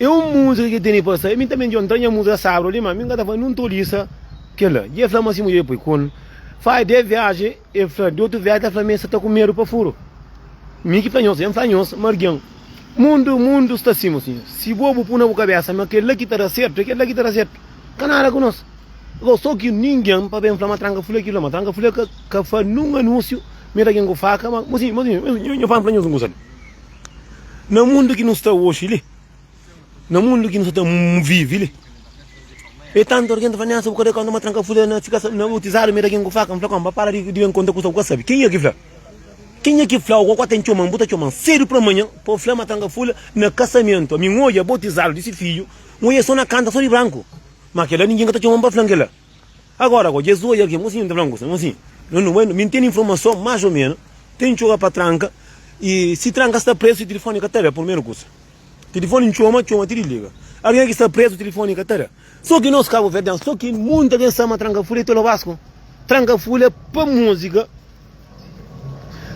É un múzika ki el tene pa sa. Mi tanbe dja ntra nha múzika sábru li, má mi ka ta fla nun toliza kel-la. Dja el fla ma si mudjer poi konu. Fai dés viajen, el fla. Di otu viajen, el ta fla ma el sta ta ku medu pa furu. Mi ki fla nhos, dja N fla nhos ma algen. Mundu, mundu sta sima sinha. Si bo bu pui na bu kabésa ma kel-la ki ta da sertu, é kel-la ki ta da sertu, ka nada ku nos. Agora, sô ki ningen pa ben fla ma tranka fule ki-la, ma tranka fule ka fla nun anúnsiu, mete algen ku faka, ma. Mo sinha, mo sinha, nhos fala-m fla nhos un kusa li. Na mundu ki nu sta oxi li, na mundu ki nu sta vive li, e tantu alguém ta fala, Nessa, bu kada quando uma tranca fudeu na tika na utizado, mira quem faca, me fala como, para de vem conta com o sabe. Quem é que fala? Quem é que fala? O cocó tem chumão, buta chumão, cedo para amanhã, pô, fala uma tranca fula na casamento, a mim olha, botizado desse filho, um olha só na canta, só de branco. Mas aquela ninguém que tá chumão para flanquela. Agora ko Jezu oja ki mosinhu ta fla-m kuzê, mosinhu, no no bai, mi ntende informason más o menu, ten txoba pa tranka i si tranka sta prezu si tilifoni ka ta da, purmeru kusa tilifoni ntxoma, txoma ti disliga. Algen ki sta prezu tilifoni ka ta da. So ki nos kabuverdian, so ki munti algen sa ma tranka fula é tolo basku. Tranka fula pa muzika,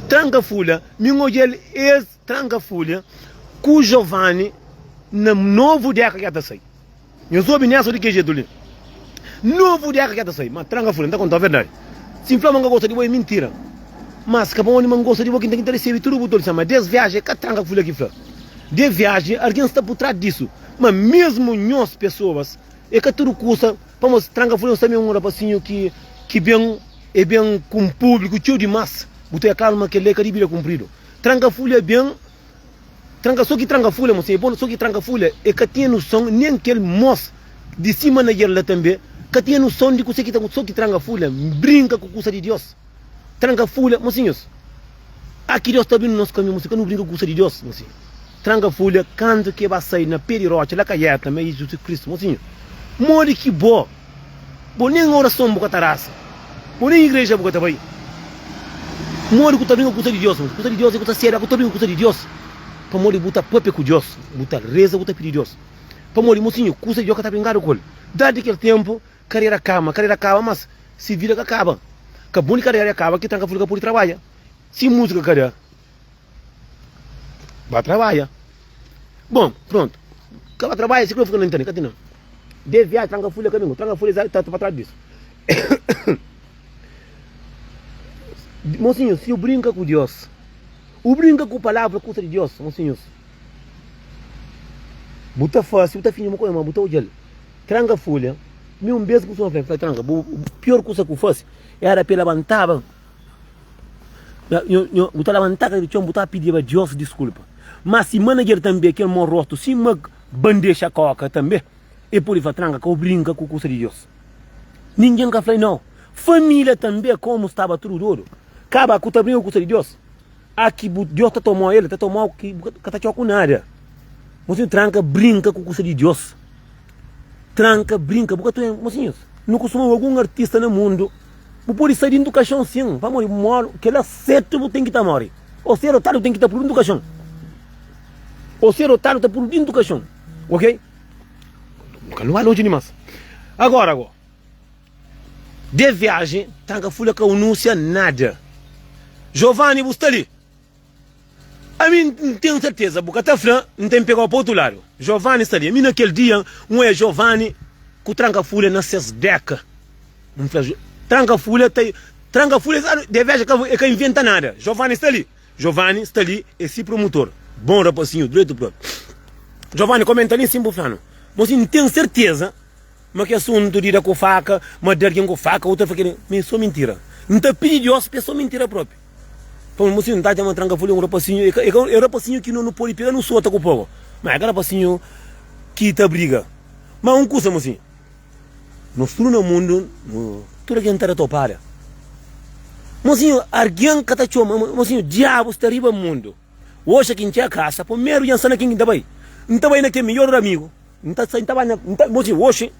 tranka fula, mi n oja-l es. Tranka folha ku Jovani na novu deka ki ja ta sai. Nhos obi Nelson di ke jetu li? Novu deka ki ja ta sai. Ma tranka folha, N ta kontau verdadi. Si N fla ma N ka gosta di bo, e mintira. Mas ka pa undi ma N gosta di bo ki N ta ki ta resebe tudu bu tolison. Ma des viaji e ka tranka folha ki fla. De viaji algin sta pur tras disu. Ma mesmu nhos pesoas e ka tudu kusa pamodi tranka folha. Nhos tanbe e un rapasinhu ki ki ben, e ben ku un publiku txeu dimas. Bu ta oja klaru ma kel-la e ka dibida kunpridu. Tranka fulha ben tranka so ki tranka fulha mo seibo so ki tranka fulha e ka tinha nuson nen kel mos di si manager la tanbe ka tinha nuson di kuse ki ta so ki tranka fulha brinka ku kusa di Dios tranka fulha mo sinhos a ki Dios ta bin nos kamiu mo si ka nu brinka ku kusa di Dios mo si tranka fulha kantu ke ba sai na pe di rocha la ka yeta ma e Jesus Kristu mo sinho modi ki bo Bo nen orason bu ka ta rasa Bo nen igreja bu ka ta bai Modi ku ta bin ka kusa di Dios Modi kusa di Dios e ku ta sedu Aku ta bin ka kusa di Dios Pamodi bu ta papia ku Dios Bu ta reza bu ta pidi Dios Pamodi mu sinhor kusa di Dios ka ta brinkadu ku el Dardi kel tempu karera kama Karera kaba mas si vida ka kaba Ka bun di karera ya kaba ki tranka flu ka pudi trabadja Si musika ka da. Ba trabalha. Bom, pronto. Ka ba trabalha, se que não fica na internet, não. De viagem, tranca folha caminho, tranca folha está para trás disso. Mocinho, se eu brinca com Deus, o brinca com a palavra custa de Deus, mocinhos. Buta fácil, buta finho, uma coisa, mas buta o gel. Tranca folha. Meu, um beijo com o senhor, tranca. Pior coisa que eu faço era para levantava. Bu ta labantá ka di txon, bu ta pidiba Diós diskulpa. Má si manajer tanbê kel mô rotu, sima bandexa kóka tanbê, el pode fla, Tranka ka bu brinka ku kusa di Diós. Ningen ka fla-l nau. Família tanbê, komu staba tudu dodu, ka ba ku ta brinka ku kusa di Diós. A ki bu Diós ta toma-u, el ta toma-u ki bu ka ta txoku nada. Mosinhu, tranka brinka ku kusa di Diós. Tranka brinka, bu ka ta oiba. Mosinhus, nu kustuma obi algun artista na mundu. Bu pode sta dintu kaxon sin pamodi bu modu kela setu bu ten ki ta mori o ser otadu ten ki ta pudu dintu kaxon o ser otadu ta pudu dintu kaxon ok ka nu ba lonji dimas agora go de viaji tranka fula ka unusia nada Jovani bu sta li Ami N ten serteza bu ka ta fla N ta inpegau pa otu ladu. Jovani sta li. Ami na kel dia N oia Jovani ku tranka-fúlia na ses béka. N fla, Tranka-fúlia ta. Tranka-fúlia sa devexa ka e ka inventa nada. Jovani sta li. Jovani sta li e si promutor. Bon rapasinhu, dretu-própriu. Jovani, kóme N ta li nsin bu fla-nu. Mo si N ten serteza. Ma ki asuntu di da ku faka, ma da algin ku faka u ta fla ki ma e so mintira. N ta pidi Dios pa e so mintira propi. Pamodi un mosinhu ta txoma Trankaful e un rapasinhu, e ka e rapasinhu ki no no podi pega no sota ku poba, ma e ka rapasinhu ki ta briga. Ma un kusa, mosinhu, nos tudu na mundu, no tudu algin ta da topada. Mosinhu, algin ka ta txoma, ma mosinhu, Diabu sta riba mundu. Oxa ki N txega kasa, primeru dja N sta na ken ki N ta bai. N ta bai na kel midjór amigu. N ta sai, N ta bai na, N ta, bo sibi, oxi,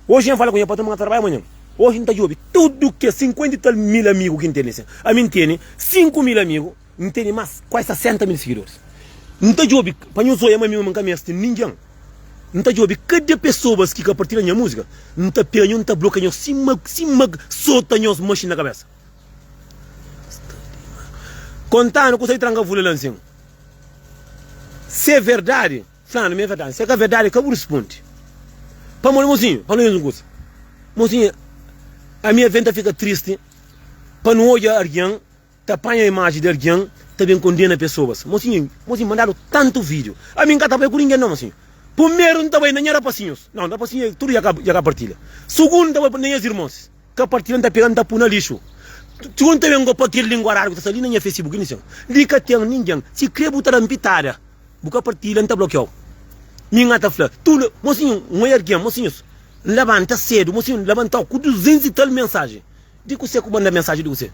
oxi nha fala ku nha patron ma N ta tarbai manhan. Oxi N ta djobe tudu kes sinkuenta i tal mil amigu ki N tene sen. Ami N tene sinku mil amigu, N tene más kuazi sasenta mil sigidoris. N ta djobe, pa nhos oia ma ami mame N ka meste ningen. N ta djobe kada pesoas ki ka partilha nha múzika, N ta penha nhos, N ta blokia nhos sima, sima sota nhos maxina na kabésa. Kontanu kusa ki tranka fla-l ansin. Si é verdadi, fla-nu, mi é verdadi. Si é ka verdadi, ka bu ruspundi. Pamodi, mosinhu, fla-nu un kusa. Mosinhu, ami avê N ta fika tristi pa N odja algen ta panha imaji di algen ta ben kondena pesoas. Mosinhu, mosinhu mandadu tantu vídiu. Ami N ka ta bai ku ningen, nau, mosinhu. Pumeru, N ta bai na nha rapasinhus. Nau, rapasinhu tudu dja ka partilha. Sugundu, N ta bai na nhas irmons. Ka partilha n ta pega n ta pu na lixu txon ta ben go pa kel lingua rara ku ta sta li na nha facebook ini sen li ka ten ningen si kre bu ta da-m pitada bu ka partilha n ta blokia-u mi nha ta fla tu mosinhu n oi argen mosinhus n labanta sedu mosinhu n labanta-u ku duzentus i tal mensaji di kuse ku manda mensaji di kuse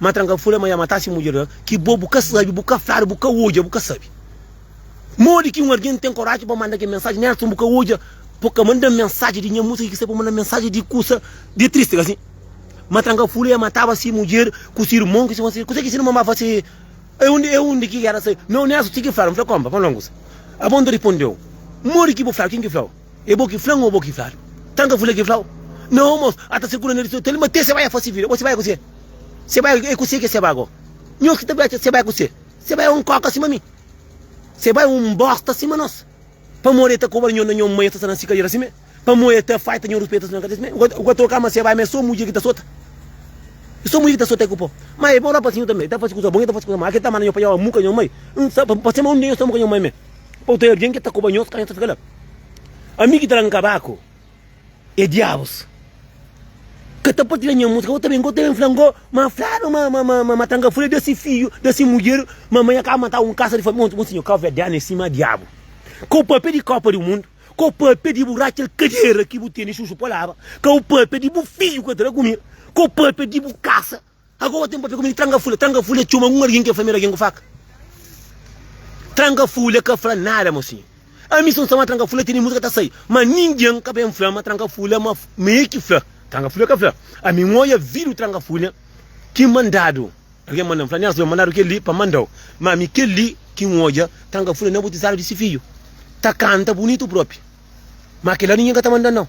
ma tranka fula ma ya mata si mudjer ki bo bu ka sabi bu ka fladu bu ka odja bu ka sabi. Modi ki un algen ten koraji pa manda kel mensaji? Nelson, bu ka odja pa ka manda mensaji di nha musika ki sai pa manda mensaji di kusa di tristi, kasi? Ma tranka fula e mataba si mudjer ku si irmon ki txomaba. Kuzê ki si nu mamá fase? E undi e undi ki éra sai? Nau, Nelson txiki fla-l. N fla konpa pa N longus. Abon ta rispondeu, Modi ki bu fla-l? Kin ki fla-u? E bo ki fla-m ô bo ki fla-l? Tranka fula ki fla-u? Nau, mos N ta sirkula na Lisua ta linba te se bai a fase vida. Bo se bai kuzê? Se bai e kuzê ki se bai go? Nhos ki ta bai atxa se bai kuzê? Se bai un koka sima mi. Se bai un bosta sima nos. Pamodi e ta kobra nho na nho mai e ta sta na si kadera si me. Pamodi e ta faita nho ruspita na kadera si me. U ka ta oka ma se bai ma e so mudjer ki ta sota. E so mudjer ki ta sota e ku po. Ma e bai ora pa sinhor tanbe. E ta fasi kusa bon e ta fasi kusa mau. Ke ta manda nho pa jau amu ka nho mai. Pa sema un dia nho sta amu ka nho mai me. Pa u ta e algin ke ta kobra nho ka nho ta fika la. Ami ki ta la nkabaku. E diabus ka ta partilha nha música Bo ta ben, bo ta ben fla-m Ngo ma fladu ma, ma, ma, ma, ma Tanga fla da si fidju, da si mudjer Ma mai akaba mata un kasa di famia Mon, mon sinhor kau verdianu é sima diabu Kau papia di kopa di mundu Kau papia di bu ratxa kadera Ki bu tene xuxu pa laba Kau papia di bu fidju ka tra kumida Kau papia di bu kasa Agoa ten papia ku mi di tranka fule. Tranka fule txoma un argin ki e flameda argin ku faka. Tranka fule ka fla nada ma si. Ami si un sama tranka fule tene musika ta sai. Ma ningen ka ben fla ma tranka fule ma ma e ki fla. Tranka fule ka fla. Ami n oia vidiu tranka fule ki mandadu. Argin mandan fla Nelson yo mandadu keli pa mandau. Ma ami keli ki n oia tranka fule na butizadu di si fiju. Ta kanta bunitu propi. Ma kila ningen ka ta mandan nau.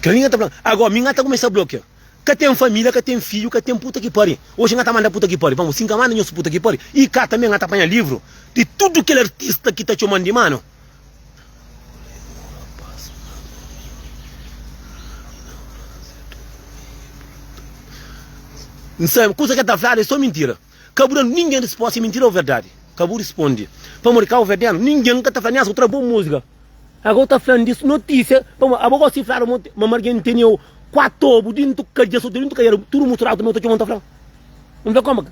Kila ningen ta fla. Agoa mi n ata kumesa blokia. Ka ten família, ka ten fidju, ka ten puta ki pari. Oji nha ta manda puta ki pari. Vamos, si nha manda nhos puta ki pari, i ka tanbe nha ta panha livru di tudu kel artista ki ta txoman di manu. N sabe kusa ki el ta fladu é so mintira. Ka bu da-m ningen rispósta, é mintira ô verdadi? Ka bu risponde, pamodi ka bu fede-m. Ningen ka ta fla, Nhas, bu tra bon múzika. Éka bu ta fla-m di notísia, pamodi abo gosi di fladu ma ma ma algen tene-u kuatu obu di ntuka dja sotu di ntuka dja tudu musturadu tambi otu txoman ta fla-m. N fla, Koma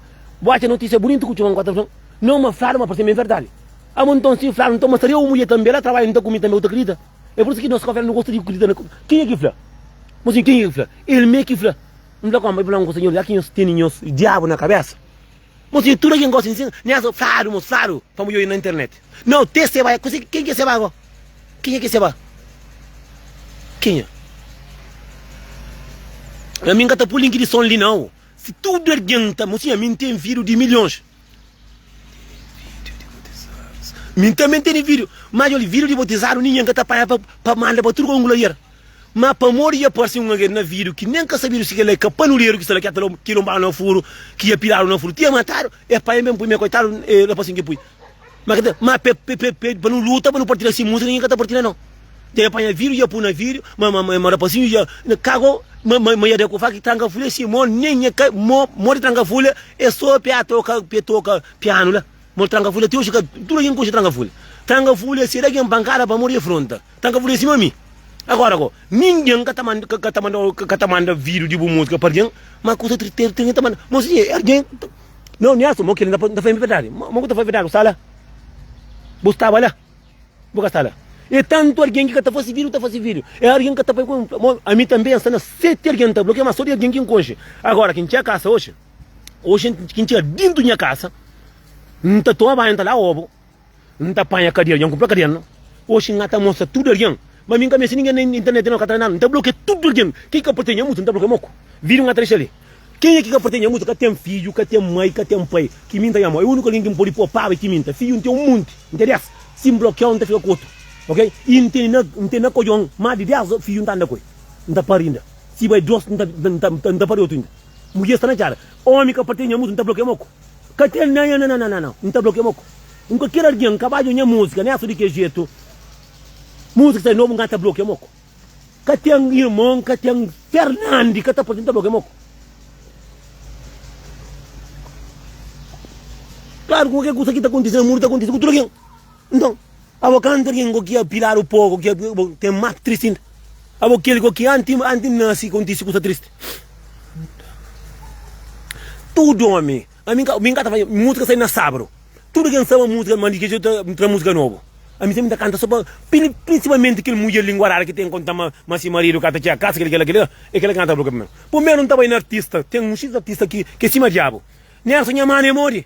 bu atxa notísia bunitu ku txoman kuatu ta fla-m? Nau ma fladu ma parse ma é verdadi. Abo nton si fladu nton ma saria u mudjer tanbi, el a trabadja nton ku mi tanbi u ta kridita? É pur isu ki nos ka oferta nu gosta di kridita na kenha ki fla. Mô sin kenha ki fla? El mê ki fla. N fla kónpa, i fla-m ku Senhor, já ki nhos tene nhos diabu na kabésa, mos tene tudo kel gosi n sina, nhas fladu mos fladu pa mudjoi na internet. Nau, te seba el, kuzê, kenha ki é seba agó? Kenha ki é seba? Kenha? Ami n ka ta pô link di son li nau, si tudo ergen ta, mos tene, ami n ten vidu di milhons. Min também teni vídeo, mas olha, vídeo de botizado ninguém ka ta panha pa, pa manda pa tudo ka un glorier. Mas pamodi dja parsi un alguém na vídeo ki nem ka sabido si kela é kapanuderu ki sta la, ki dja ta ki lonbadu na furu, ki dja piladu na furu ti é matadu, epa, é mesmo pui, mas coitado, é la pa assim ki pui. Ma k'ta ma pe pe pe pe pa nu luta pa nu partilha si musa ninguém k'ta partilha no Nta ia panha vidru ia pu na vidru ma ma ma rapazinho ia na kago ma ma ma ia da ku faka tranka folha si mo nem nha ka mo mo di tranka folha e so pia toka pia toka piano la mo di tranka folha ti oji ka tudu algin konxe tranka folha tranka folha se da algin pankada pamodi e fronta. Tan ka furesi ma mi. Agora go, ninguem ka ta manda ka ta manda ka ta manda video di bu musika pa argem, ma ku ta ter ter ter ta manda. Mo si e argem Não, Niasso, mo kele nta fai verdade. Mo mo ku ta fai verdade, bu sta la? Bu staba la? Bu ka sta la? E tantu argem ki ka ta fasi video ta fasi video. E argem ka ta fai ku mo ami tambe nsta na sete argem nta blokia ma so di argem ki nkonxe. Agora ki ntxia kasa oxi, oxi ki ntxia dintu nha kasa, nta toma banhu nta lava obo. N ta panha kadia algen, N kunpra kadia no. Oxi N ta mostra tudu algen, ma mi N ka meste ningen na internet no, N ka tra nada, N ta blokia tudu algen, ken ki ka partia nha mutu N ta blokia moko, video N ka tra dexa li. Kenha ki ka partia nha mutu ka ten fidju, ka ten mai, ka ten pai, ki minta nha mó, é uniku algen ki N podi pô paba é ki minta, fidju N ten un monti, N ten 10, si N blokiau N ta fika ku otu, ok, i N ten N ten na kodjon mas di 10 fidju N ta anda ku el, N ta pari inda, si bai dos N ta N ta pari otu inda, mudjer sta na txada, omi ka partia nha mutu N ta blokia moko. Ka ten nana nananana N ta blokia mo kó N ka kere algen ka ba djo nha múzika Nha so di kel jetu Múzika sai nobu N ka ta blokia mo kó Ka ten irmon ka ten Fernandi ka ta poti N ta blokia mo kó Klaru ku kel kusa ki ta kontise na mundu ta kontise ku tudu algen Nton. Abo kanta ken ku ki apiladu poku ki abo ten matu tristi inda. Abo kel ku ki anti anti nasi kontisi kusa tristi. Tudu omi, ami ka mi ka ta fazia musika sai na sabru. Tudu ken saba musika ma di kexeu ta tra musika nobu. Ami sempri ta kanta so pa prin prinsipalmenti kel mudjer linguaradu ki ten konta ma ma si maridu ka ta txia kasa kel kel kel e kel kanta bruka primeru. Primeru N ta bai na artista, ten un xiz artista ki ke sima diabu. Nerson nha mana e modi.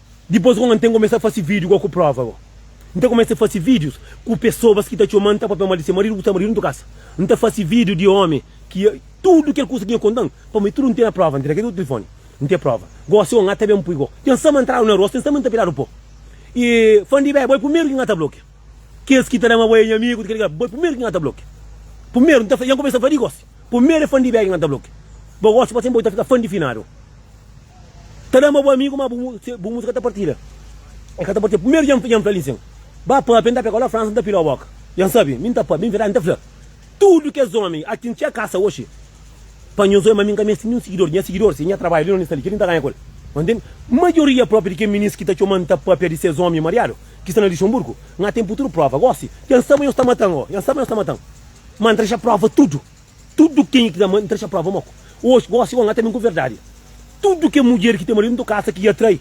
Dipôs gon N ten kumesa fase vídiu go ku próva go. N ta kumesa fase vídius ku pesobas ki ta txoma-m, ta papia-m mal di se maridu ku se maridu ntu kasa. N ta fase vídiu di ómi ki a. Tudu kel kusa ki nha konta-m, pa mi tudu N tene próva. N tira kel otu tilifoni. N ten próva. Gósi gon N ta ben N pui go. Ten sama N tradu na rua, ten sama N ta piradu po. I fan di be, bo é primeru ki N ta blokia. Kes ki ta da-ma bo é nha amigu, kel ki ka. Bo é primeru ki N ta blokia. Primeru N ta fla, i N kumesa fla di gósi. Primeru é fan di be ki N ta blokia. Bo gósi pa sénpri bo ta fika fan di finadu. Ta da ma bu amigu, ma bu mutu ka ta partida. El ka ta partida. Primeru dja N fla-l insin, Ba pâpia, N ta pega-u la Fransa, N ta pila-u bóka. Dja N sabe, mi N ta pâpia. Inveridadi, N ta fla tudu kes ómi a tintxa kasa oxi pa nhos oi, ma mi N ka meste ninhun sigidor di. Nha sigidor si é nha trabadju li, na lista li, kel-li N ta ganha ku el. Ba ntende? Majoria própi di kel minis ki ta txoma N ta pâpia di ses ómi mariadu ki sta na Lixenburgu, N atém puturu próva gósi. Dja N sabe ma nhos ta mata-m. Ó, dja N sabe ma nhos ta mata-m, ma N ta dexa próva tudu. Tudu kenha ki ta ama, N ta dexa prova ma ku oxi gosi ku el, N ata ben ku verdadi. Tudu ki mudjer ki ten maridu nta kasa ki i atrai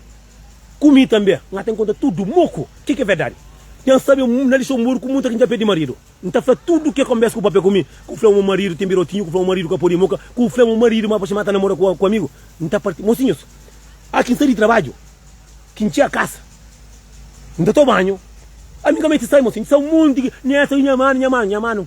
ku mi tanbe, N ata nkontra tudu mo ku ke ki é verdadi. Ten sabe na Lixonburgu ku munta ki dja perde maridu. N ta fla tudu ke konbes ku papia ku mi, ku fla ma maridu ten birotinhu, ku fla ma maridu ka pode moka, ku fla ma maridu ma paxi ma ta namora ku ku amigu. N ta parti, Mosinhus, a ki N sai di trabadju, ki N txia kasa, N ta to banhu, ami ka mete sai, mosinhu. N ta sa un monti ki, Nhesa, nha manu, nha manu, nha manu.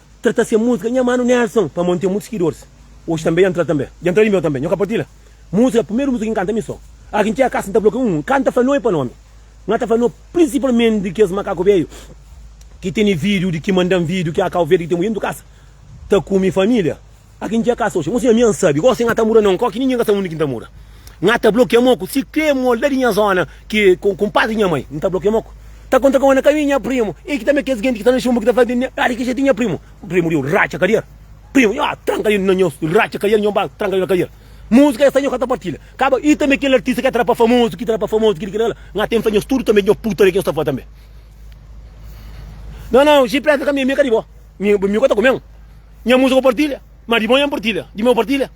Tra ta se musika nha manu Nelson pamo nten mutu skidors oji tanbe dja ntra tanbe dja ntra di meu tanbe nho ka partila musika primeru musika ki nkanta mi so a ki ntxega kasa nta bloka um nkanta fla noi pa nomi nha ta fla no prinsipalmenti di kes makaku veiu ki teni vidiu di ki mandan vidiu ki a kau verde ki ten muitu kasa ta kumi familia. Akin dja kasa oxi. Nhu siñor mi an sabi gosi nha ta mura na un kau ki ninhin ka sabi undi ki nhu ta mura. Nha ta blokia mo ku siklê mo la di nha zona ki ku kunpas di nha mai. Nhu ta blokia mo ku. Ta konta kau na kaminhu nha primu i ki tanbe kes genti ki sta na xunbu ki ta fla di ah di ki jetu nha primu. Primu di un ratxa kadier. Primu nha ah tranka di na nha ratxa kadier nha ba tranka di na kadier. Musika esa nhu ka ta partila. Kaba i tanbe kel artista ki a tra pa famozu ki tra pa famozu ki di ki da la. Nha ten fla nhos tudu tanbe nha putaria ki nhos ta fla tanbe. Nau nau jipresa ka mi mi ka di bo. Mi mi ka ta kumen. Nha musa ku partilha, ma di bo nha N partilha, di mi N partilha.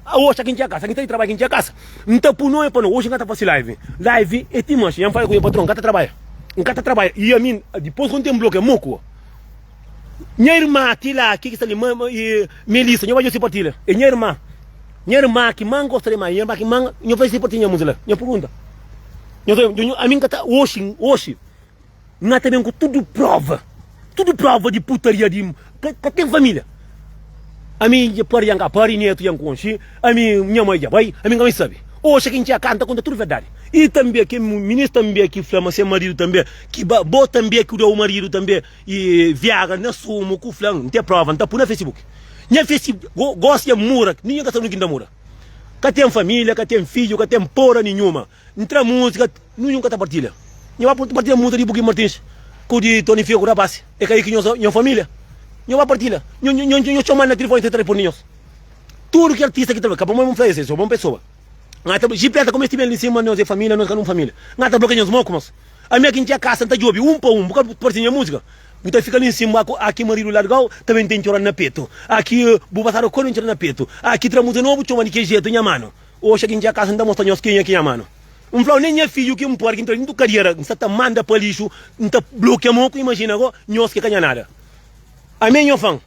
Oxi aki N txia kasa, aki N ta di trabadju, aki N txia kasa. N ta pui nome pa no, oxi N ka ta fasi live, live e ti manxi. Nha N fala ku nha patron, N ka ta trabadja, N ka ta trabadja. I ami, dipos ku N ten bloku e mo ku nha irma ki la, ki ki sta li, Melissa, nho fasi si partilha, e nha irma, nha irma ki ma N gosta dimais, nha irma ki ma N, nho fasi si partilha nha musa la, nha purgunta, nho ta, ami N ka ta, oxi, oxi. Na ta ben ku tudu prova, tudu prova di putaria di ka, ka ten família. Ami dja pari, dja n ka pari, netu dja n konxe, ami nha mai dja bai, ami n ka mai sabe. Oxa ki n txia ka, n ta konta tudu verdadi. I tanbe ki minis tanbe ki fla ma se maridu tanbe ki ba, bo tanbe ki da u maridu tanbe i viagra na sumu ku fla n ten prova n ta pu na facebook. Nha face go, gosi dja mura, ninhun ka sabe nunki n ta mura. Ka ten família, ka ten fidju, ka ten pora ninhuma. N tra múzika, nu nunka ta partilha. Nho ba partilha múzika di Buki Martins ku di Tony Fia ku Rapaz. É ka aí ki nho sa, nho família. Nho ba partilha. Nho, nho, nho, nho txoma-l na tilifoni, si el ta responde nhos. Tudu ki artista ki ta ben, ka pamodi N fla es, es é bon pesoa. N ka ta blo, jipesa kuma es ti ben li sima nos é família, nos ka nun família. N ka ta blokia nhos mó ku mos. Ami aki N txia kasa, N ta djobe un pa un, bu ka partilha nha múzika? Bu ta fika li nsin, bu aku, aki maridu larga-u, ta ben ten txora-l na petu. Aki, bu basadu kóde, N txora-l na petu. Aki, tra múzika nobu, txoma-l di ki jetu, nha manu. Oxa ki N txia kasa, N ta mostra nhos kenha ki N ama-nu. N fla-u, nen nha fidju ki é un puérku intra di tudu kadiera, N sta ta manda pa lixu, N ta blokia mo ku imajina go nhos ki ka nha nada. Ami é nho fan.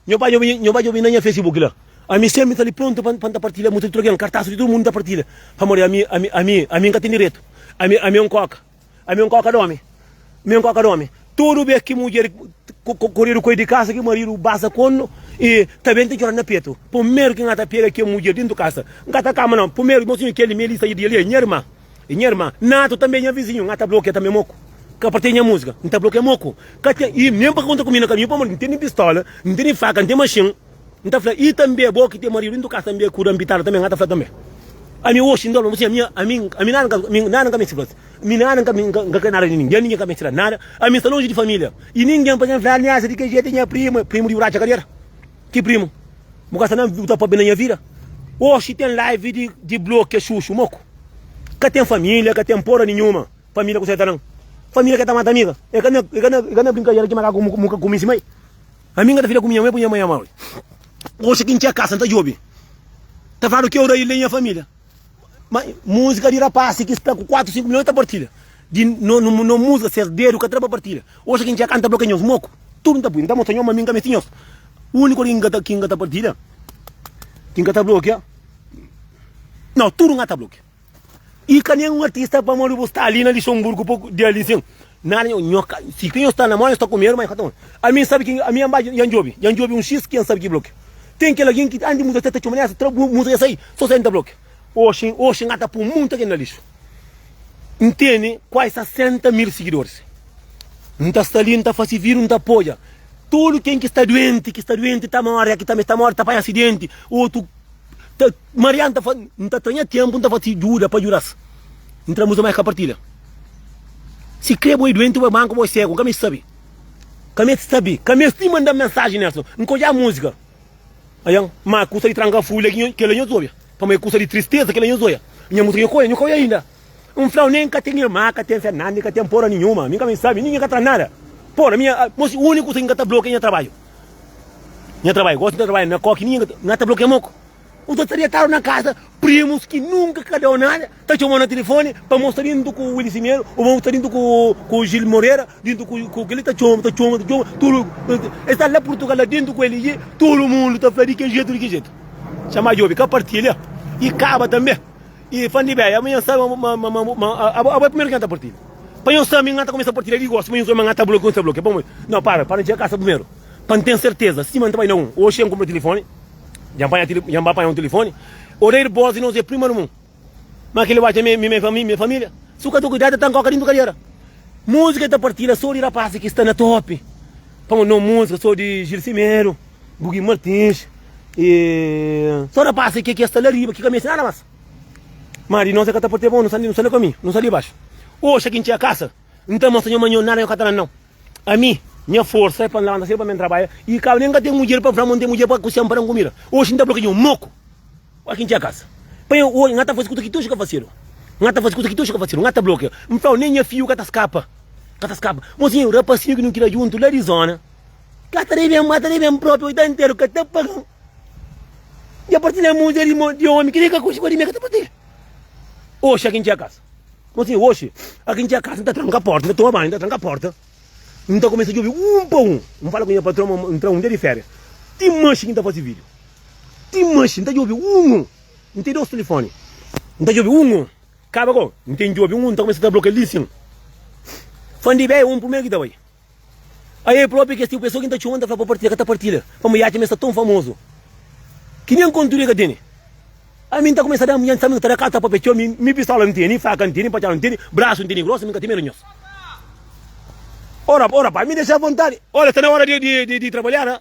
Nho bai djobe, nho bai djobe na nha Facebook la. Ami sénpri sta li prontu pa N ta partilha musa di tudu algen, kartasu di tudu mundu ta partilha. Pamodi ami, ami, ami, ami N ka ten diretu. Ami, ami é un kóka. Ami é un kóka d'ómi, mi é un kóka d'ómi. Tudu bes ki mudjer koredu koi di kasa, ki maridu basa konu i ta ben ta djora-l na petu. Primeru ki N ka ta pega kel mudjer dentu kasa, N ka ta kama nau. Primeru, mosinhu, kel-li, me lista di el, é nha irma, é nha irma. Natu tanbê é nha vizinhu, N ka ta blokia tanbê moku. Ka partia nha múzika, N ta blokia moku. Ka ten, i nen pa konta ku mi na kaminhu, pamodi N tene pistola, N tene faka, N ten maxin. N ta fla, i tanbe bo ki ten maridu, i n ta kasa tanbe ku ranpitadu tanbe? N ka ta fla tanbe? Ami oxi N ta fla pa bos, ami ami nada nada N ka meste fla-s, mi nada N ka N ka kre nada di ningen, ningen ka meste da-m nada, ami sta lonji di familia, i ningen pa ken fla ameasa di ke jetu, nha primu, primu di bratxa kal era? Ki primu? Bu ka sta na bu ta papia na nha vida? Oxi ten live di di blokia xuxu moku, ka ten familia, ka ten pora ninhuma, familia ku seta nan, familia ke ta mata amiga, e ka na e ka na e ka na brinkadera ki makaku mu ka kuminsi mai? Ami nga ta fika ku nha mãe ku nha mãe amau. Oxi ki N txê kasa, N ta djobe ta fladu ki Auraílio é nha família. Má múzika di rapasi ki sta ku kuatu, sinku milhon, el ta partilha. Di no, no, no múzika, ses dedu ka tra pa partilha. Oxi ki N txê kasa, N ta blokia nhos moku. Tudu N ta pui, N ta mostra nhos ma mi N ka meste nhos. Úniku algen ki N ka ta, ki N ka ta partilha, ki N ka ta blokia, nau, tudu N ka ta blokia. E ka nenhum artista pa modi bu sta ali na Luxemburgo pa dia ali sim. Nada nho, nho ka, si que nho sta na mó, nho sta com medo, mas ka toma. A mim sabe que, a mim amba ya njobi, ya njobi um X que ya sabe que bloque. Tem aquele alguém que antes de música até tá chumando, tra música sai, só sai nta bloque. Oxi, oxi nga ta pum muita que na lixo. Ntende? Quase 60 mil seguidores. Nta sta ali, nta fasi vídeo, nta apoia. Todo quem que está doente, que está doente, tá morre, que também está morre, tá apanha acidente, outro tá Marian ta fla, N ta ta nha ténpu, N ta fla ti djuda pa djuda-s. N tra muza, má es ka partilha. Sikrê bo é duenti, bo é manku, bo é ségu, N ka meste sabe. Ka meste sabe. Ka meste nin manda-m mensaji nérson. N ka odja múzika. Ayan. Má kusa di tranka fui la, ki nha, kel-la nhos obi. Pamodi é kusa di tristeza, kel-la nhos oia. Nha múzika, nha ka oia, nha ka oia inda. N fla-u, nen ka ten irma, ka ten Fernanda i ka ten pora ninhuma. Mi N ka meste sabe. Ninguén ka tra nada. Pora, mi, a, mos, úniku kusa ki N ka ta blokia é nha trabalhu. Nha trabalhu. Gosi N ta trabadja na kóki, ninguén ka ta. N ka ta blokia moku. N ta sta detadu na kaza, primus ki nunka ka da-u nada ta txoma-u na tilifoni pa mos sta dintu ku Willy Simedo ô mos sta dintu ku Gil Morera, dintu ku kel-li, ta txoma, ta txoma, ta txoma, tudu, el sta la Purtugal la dintu ku el li, tudu mundu ta fla di ki jetu, di ki jetu. Txeu más djobe ka partilha i kaba tanbe. I fla-m di bem, amanha N sabe ma, ma, ma, ma, abo, abo é primeru ki N ta partilha. Pa nhos sabe, N ta kumesa partilha di gosi, ma nhos sabe ma N ta blokia, N ta blokia, pamodi? Nau, para, para N txiga kasa primeru, pa N ten serteza sima N ta bai na un. Oxi, N kunpra tilifoni. Dja panha tili, dja ba panha un telefone. Odeiro bos e nos é prima no mun. Ma kile watcha me, me, me família, me família. Su ka ta cuidar ta tan coca dentro cadeira. Música ta partila só de rapaz que está na top. Pamo no música só de Gil Simeiro, Bugi Martins. E só rapaz que que está lá riba que cabeça nada mais. Mas de nós é que tá por ter bom, não sai, não sai no caminho, não sai de baixo. Oxa que enche a casa, então mas senhor manhã nada eu catana não. Ami, nha forsa é pa N labanta sédu pa ben trabadja i kabu nen ka ten mudjer pa N fla ma N ten mudjer pa kusia-m pa da-m kumida. Oxi N ta fla ki dja un moku pa ki N txia kasa. Pa N oja, N ta fase kuza ki ti oxi ka fasedu. N ta fase kuza ki ti oxi ka fasedu. N ta blokia. N fla-u, nen nha fiu ka ta skapa. Ka ta skapa. Bo sibi, rapasinhu ki nu kria djuntu la di zona ka ta debe-m, ka ta debe-m propi oita interu, ka ta paga-m. Dja partilha mudjer di omi, ki nen ka konxe, kua di mi el ka ta partilha? Oxi, a ki N txia kasa. Nton asin oxi, a ki N txa kasa, N ta tranka porta, N ta toma banhu, N ta tranka porta, N ta kumesa djobe un pa un, N fala ku nha patron ma N tra un dia di férias, ti maxi ki N ta fase vídio, ti maxi N ta djobe un un, N ten dos tilifoni, N ta djobe un un, kaba ku N ten djobe un un, N ta kumesa ta blokia li sin, fandi bea un primeru ki ta bai. Aê própi kes tipu pesoa ki N ta txoma N ta fla pa partilha ka ta partilha pamodi e atxa ma e sta ton famozu ki nen kontudu e ka teni Ami N ta kumesa da munhé N sabe N ta da kal tapa pe txeu Mi mi pistola N teni faka N teni patxada N teni brasu N teni grosa Mi ka ten medu nhos Ó rapaz mi dexa a vontadi Óla sta na óra di trabalhada.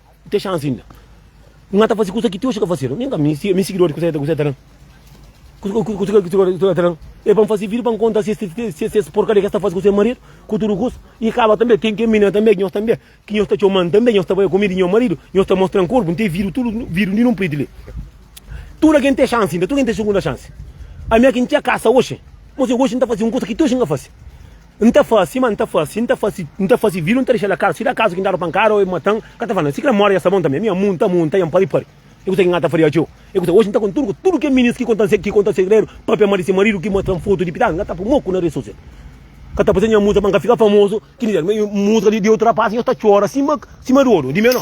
Te xansi inda. Nha ta fase kusa ki ti oxi ka fasedu. Nen ka mi, si mi sigidoris kusa ki ta ta dan. Kusa ki sigidoris ta ta dan. E pa N fase vídiu pa N konta si es porkaria ki es ta fase ku se maridu, ku tudu kusa. I kaba tanbe, ten ken minera tanbe ki nhos tanbe, ki nhos ta txoman tanbe, nhos ta bai kume di nha maridu, nhos ta mostran korpu. N ten vídiu tudu, vídiu di nunpriti li. Tudu algen ten xansi inda, tudu algen ten sugunda xansi. Ami aki N txia kasa oxi, ma si oxi N ta fase un kusa ki ti oxi N ka fase. N ta fase, ma N ta fase, N ta fase, N ta fase vilu, N ta dexa-l akar. Si da kazu ki N dadu pankada ô e mata-m, N ka ta fla-m, Si kre móre dja sta bon tanbê. Mi amu, N ta amu, N ta ia-m pari pari. E kuzê ki N ka ta faria txeu? E kuzê? Oji N ta konta-m ku tudu kes minis ki konta-m ki konta-m segredu, pâpia má di se maridu ki mostra-m fotu di pitada. N ka ta poi moku na redi sosial. N ka ta faze nha múzika pa N ka fika famozu ki N dizeba. Múzika di otu rapás i nhos ta txora sima di odu di menó.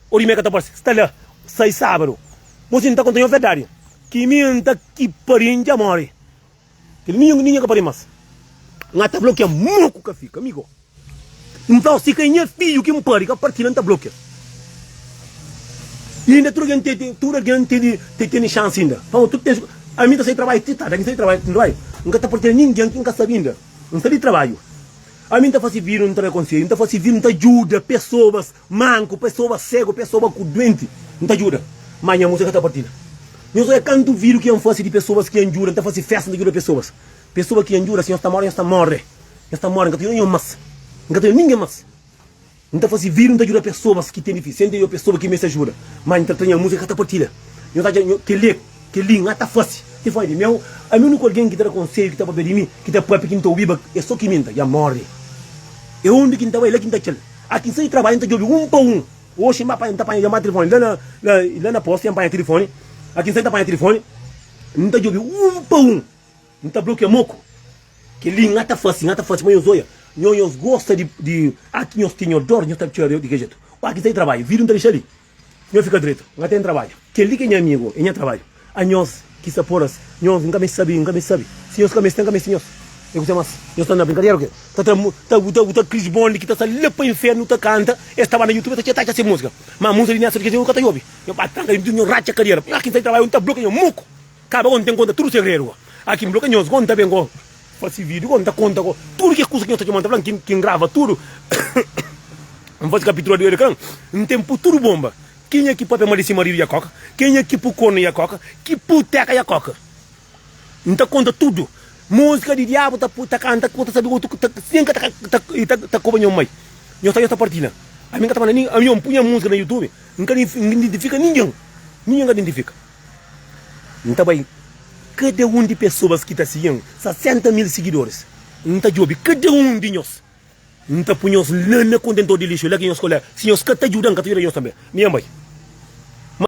O di meka ta parse sta la sai sabadu Bo si nta konta nho verdadi Ki mi nta ki pari ndja mori Kel minho ki ndinha ka pari mas Nha ta blokia mo ku ka fika migo Nflau si ka e nha fidju ki npari ka parti la nta blokia E inda tudu algen te tudu algen tedi te teni xansi inda Pamo tudu ten su Ami nta sai trabaiu ti tardi Ami sai trabaiu ti trabaiu Nka ta partia ninghen ki nka sabi inda Nsa di trabaiu Ami nta fasi vidu nta da konseiu Nta fasi vidu nta djuda pesobas Manku, pa es ta oba, ségu, pa es ta oba, ku duenti, N ta djuda. Má nha mô sa ka ta partida. Nhos odja kantu vídiu ki N fase di pesoas ki N djuda. N ta fase fésta, N ta djuda pesoas. Pesoas ki N djuda, si nhos ta móre, nhos ta móre. Nhos ta móre, N ka ta djuda nhos más. N ka ta djuda ningen más. N ta fase vídiu, N ta djuda pesoas ki ten difísil. Si N ten pesoas ki meste ajuda, má N ta tra nha mô sa ka ta partida. Nhos atxa kel-li, kel-li N ka ta fase. Ti fora di meu, ami úniku algen ki ta da konsedju, ki ta pâpia di mi, ki ta pâpia, ki N ta obiba, é sô ki mi. N ta dja móre. É undi ki N ta bai, é la ki N ta atxa-l. Ati N sai di trabadju, N ta djobe un pa un. Oxi, N ba panha, N ta panha djamada tilifoni la na, la na posti, N panha tilifoni. Ati N sai, N ta panha tilifoni, N ta djobe un pa un. N ta blokia moku. Kel-li N ata fase, N ata fase, ma nhos oia, nho, nhos gosta di, di. Ati nhos tinha odor, nhos ta txora di kel jetu. Ati N sai di trabadju, vidru N ta dexa li, Nho fika dretu, nha ten trabadju. Kel-li ki é nha amigu, é nha trabadju. A nhos ki sta pora-s, nhos N ka meste sabe, N ka meste sabe. Si nhos ka meste, N ka meste nhos. É kuzê más? Nhos sta na brinkadera o kê? Ta tra mu, ta bu, ta bu, ta Chris Bond ki ta sta la pa inférnu ta kanta, es ta ba na YouTube, es ta txeta-txa se múzika. Má, múzika di nha sóru di kes amigu N ka ta obi. Nho ba tranka dentru di tudu, nho ratxa kadera. Nha ki N sta di trabadju, N ta blokia nho muku. Kaba kon ten konta tudu segredu ko aki nblokia nhos kon ta ben ko fasi video kon ta konta ko tudu ki kusa ki nhos ta txoma ta fla ki ngrava tudu nfasi kapitura di Hurrican ntem pu tudu bomba kenha ki papia mali sima riu ya koka kenha ki pu konu ya koka ki pu teka ya koka nta konta tudu musika di diabu ta pu ta kanta ko ta sabi otu ki ta sen ka ta i ta koba nho mai nhos ta nhos ta partilha ami nkata manda ami npu nha musika na youtube nka identifika ningen ningen ka identifika. N ta bai kada un di pesoas ki ta sigi-m, 60 mil sigidoris. N ta djobe kada un di nhos. N ta poi nhos la na kontentor di lixu, la ki nhos kolé. Si nhos ka ta djuda-m, N ka ta djuda nhos tanbê. Mi N bai. Má.